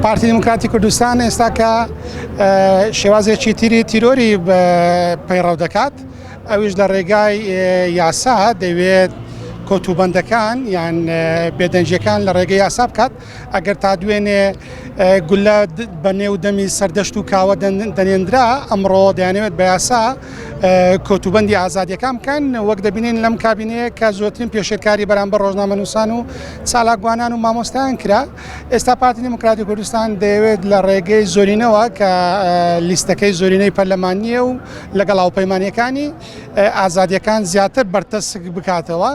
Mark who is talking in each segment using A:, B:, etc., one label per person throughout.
A: پارتی دیموکراتی کوردستان ئێستا کە شێوازێکی تیری تیرۆری پەیڕەو دەکات ئەویش لە ڕێگای یاسا دەوێت کۆتوبندەکان یان بێدەنجەکان لە ڕێگە یاسا بکات ئەگەر تا دوێنێ گولە بە نێو دەمی سەردەشت و کاوە دەنێنرا ئەمڕۆ دەیانەوێت بە یاسا کۆتوبندی ئازادیەکان بکەن وەک دەبینین لەم کابینەیە کە زۆترین پێشێکاری بەرامبەر ڕۆژنامەنووسان و چالاکوانان و مامۆستایان کرا ئێستا پارتی دیموکراتی کوردستان دەیەوێت لە ڕێگەی زۆرینەوە کە لیستەکەی زۆرینەی پەرلەمانیە و لەگەڵ هاوپەیمانەکانی ئازادیەکان زیاتر بەرتەسک بکاتەوە.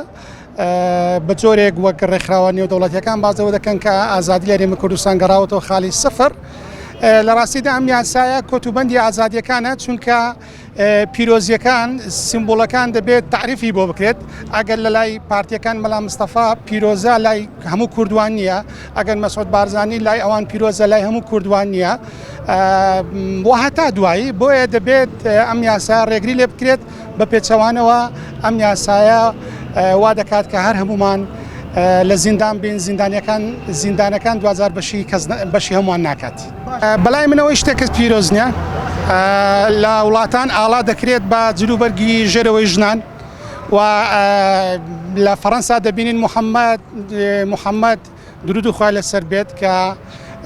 A: بە جۆرێک وەک ڕێکخراوە نێودەوڵەتیەکان بازەوە دەکەن کە ئازادی لە رێمە کوردستان گەڕاوەتەوە خالی سفر لە ڕاستیدا ئەم یاسایە کۆتوبندی ئازادیەکانە چونکە پیرۆزیەکان سیمبولەکان دەبێت تعریفی بۆ بکرێت ئەگەر لە لای پارتیەکان مەلا مستەفا پیرۆزە لای هەموو کوردوان نییە ئەگەر مەسعود بارزانانی لای ئەوان پیرۆزە لای هەموو کوردوان نییە بۆ هەتا دوایی بۆیە دەبێت ئەم یاسا ڕێگری لێ بکرێت بە پێچەوانەوە ئەم یاسایە وا دەکات کە هەر هەمومان لە زیندان بین زیندانەکان زیندانەکان دوزار بەشی بەشی هەمووان ناکات. بەلای من ئەوەی شتێک کەس پیرۆز نیە لە وڵاتان ئاڵا دەکرێت بە جلوبەرگی ژێرەوەی ژنان و لە فەەنسا دەبینین محەممەد محەممەد درود و خخوای لەسەر بێت کە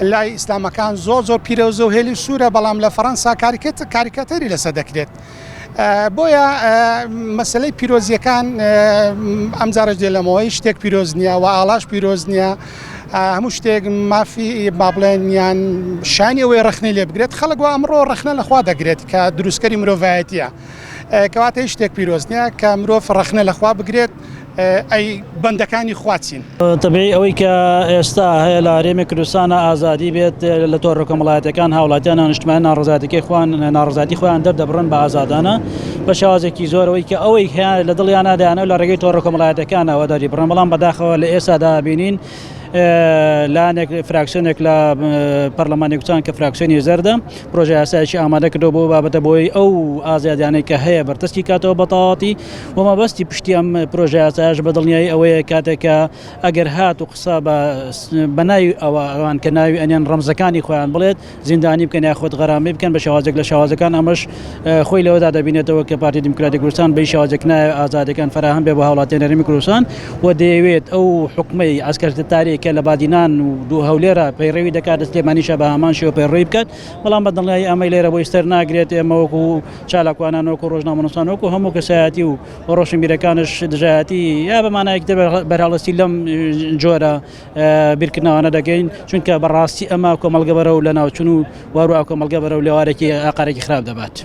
A: لای ئیسلامەکان زۆر زۆر پیرەوزە و هێلی سوورە بەڵام لە فەەنسا کاریکەت کاریکەتەری لەسە دەکرێت بۆیە مەسەلەی پیرۆزیەکان ئەم جارش دێ لەمەوەی شتێک پیرۆز نییە و ئاڵاش پیرۆز نییە هەموو شتێک مافی بابلێنیان شانی ئەوەی ڕخنەی لێ بگرێت خەڵک و ئەمڕۆ ڕخنە لەخوا دەگرێت کە دروستکەری مرۆڤایەتە کەواتە هیچ شتێک پیرۆز نییە کە مرۆڤ ڕخنە لەخوا بگرێت ئەی بەندەکانی خوا چین؟ تەبیعی ئەوەی کە
B: ئێستا هەیە لە هەرێمی کوردستانە ئازادی بێت لە تۆڕە کۆمەڵایەتیەکان هاوڵاتیان نانیشتمانی ناڕزایەتیەکەی خوان ناڕزایەتی خۆیان دەردەبڕن بە ئازادانە بە شێوازێکی زۆرەوەی کە ئەوەی هەیە لە دڵیانە دەیانە لە ڕێگەی تۆڕە کۆمەڵایەتەکانەوە داری بڕن بەڵام بەداخەوە لە ئێستادا بینین لایەنێک فراکسیۆنێک لە پەرلەمانی کوچان کە فراکسیۆنی زەردە پرۆژه یاسایشی ئامادە کردو بۆ بابەتە بۆی ئەو ئازادیانەی کە هەیە بەرتەسکی کاتەوە بەتەواتی وە مەبەستی پشتی ئەم پرۆژە یاسایەش بە دڵنیایی ئەوەیە کاتێک کە ئەگەر هات و قسە بە بە ناوی ئەوە ئەوان کە ناوی ئەنێن ڕەمزەکانی خۆیان بڵێت زیندانی بکەن یاخود غەرامەی بکەن بە شێوازێک لە شێوازەکان ئەمەش خۆی لەوەدا دەبینێتەوە کە پارتی دیموکراتی کوردستان بە هیچ شێوازێک نایەوێت ئازادییەکان فەراهەم بێت بۆ هاوڵاتیانی هەرێمی کوردستان و دەیەوێت ئەو حوکمەی عەسکەرتتاری کە لە بادینان و دوو هەولێرە پەیڕەوی دەکات لە سلێمانیشە بە هەمان شێوە پەیڕەوی بکات بەڵام بە دڵنیایی ئەمەی لێرە بۆی سەر ناگرێت ئێمە وەکوو چالاکوانان وەکو ڕۆژنامەنوسان وەکو هەموو کەسایەتی و ڕۆشنبیرەکانش دژایەتی یا بەمانایەک تر بەرهەڵستی لەم جۆرە بیرکردنەوانە دەگەین چونکە بەڕاستی ئەمە کۆمەڵگە بەرەو لە ناوچون و وەرو کۆمەڵگە بەرەو لێوارێکی ئاقارێکی خراپ دەبات.